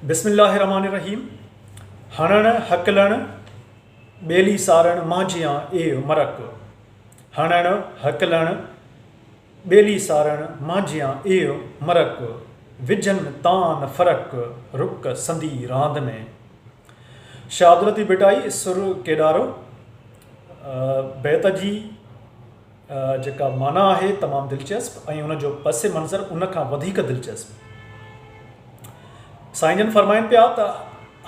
بسم الله الرحمٰن الرحيم هڻڻ هڪلڻ ٻيلي سارڻ مانجهيان اي مرڪ هڻڻ هڪلڻ ٻيلي سارڻ مانجهيان اي مرڪ وجهن تان نه فرق رڪ سندي راند ۾. شهادرتي ڀٽائي سر ڪيڏارو بيت جي. جيڪا معنيٰ آهي تمام دلچسپ ۽ ان جو پس منظر ان کان وڌيڪ دلچسپ. سائين جن فرمائن پيا ته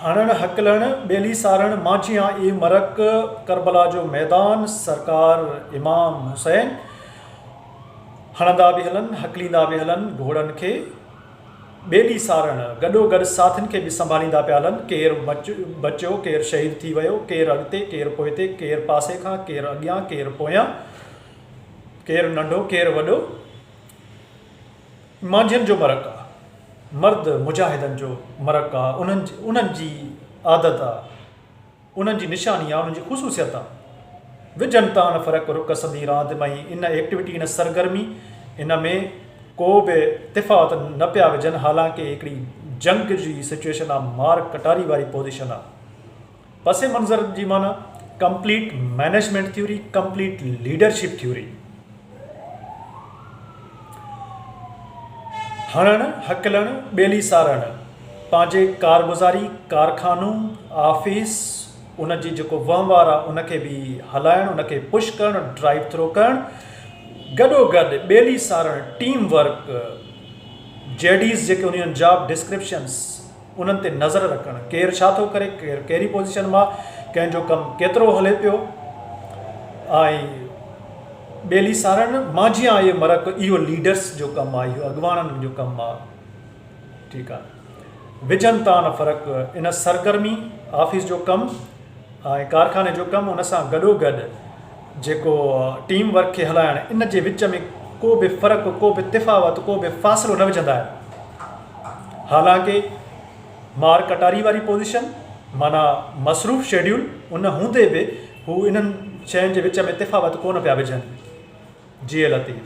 هڻڻ هڪلڻ ٻيلي سارڻ مانجهيان اي مرڪ ڪربلا جو ميدان سرڪار امام حسين هڻندا به هلن هڪليندا به هلن گهوڙن کي. ٻئي ڏينهن سارڻ گڏو گڏ ساٿين کي به سنڀاليندا پيا هلن، ڪير بچيو، ڪير شهيد ٿي ويو، ڪير اڳتي، ڪير پوئتي، ڪير پاسي کان، ڪير اڳيان، ڪير پويان، ڪير ننڍو، ڪير وڏو، مانجهين جو مرڪ آ، مرد مجاهدن جو مرڪ آ، انهن جي عادت آ. انهن جي نشاني يا انهن جي خصوصيت آ. وجهن تان ان فرق رڪ سندي راند ۾ ۽ ان ايڪٽويٽي ان سرگرمي ان ۾ ڪو به تفاوت نه پيا وجهن حالانڪ اهي هڪڙي جنگ جي سچويشن آ مار ڪٽاري واري پوزيشن آ پس منظر جي معنيٰ complete management theory complete leadership theory. هڻڻ، هڪلڻ، ٻيلي سارڻ، پنهنجي ڪارگذاري، ڪارخانو، آفيس، ان جي جيڪو وهنوار آهي ان کي به هلائڻ، ان کي پش ڪرڻ، ڊرائيو ٿرو ڪرڻ، گڏو گڏ ٻيلي سارڻ، ٽيم ورڪ، جيڊيز جيڪي هونديون آهن، جاب ڊسڪرپشنز، انهن تي نظر رکڻ ڪير ڇا ٿو ڪري ڪير ڪهڙي پوزيشن مان ڪنهن جو ڪم ڪيترو هلي پيو ۽ ٻيلي سارڻ مانجهي آن اهي مرڪ اهو ليڊرس جو ڪم آهي اهو اڳواڻن جو ڪم آهي ٺيڪ آهي وجهن تان فرق ان سرگرمي آفيس جو ڪم ۽ ڪارخاني جو ڪم ان سان گڏو گڏ جيڪو ٽيم ورڪ کي هلائڻ ان جي وچ ۾ ڪو به فرق ڪو به تفاوت ڪو به فاصلو نه وجهندا آهن حالانڪ مار ڪٽاري واري پوزيشن معنيٰ مصروف شيڊيول ان هوندي به هو انهن شين جي وچ ۾ تفاوت ڪونه پيا وجهن جي لطيف.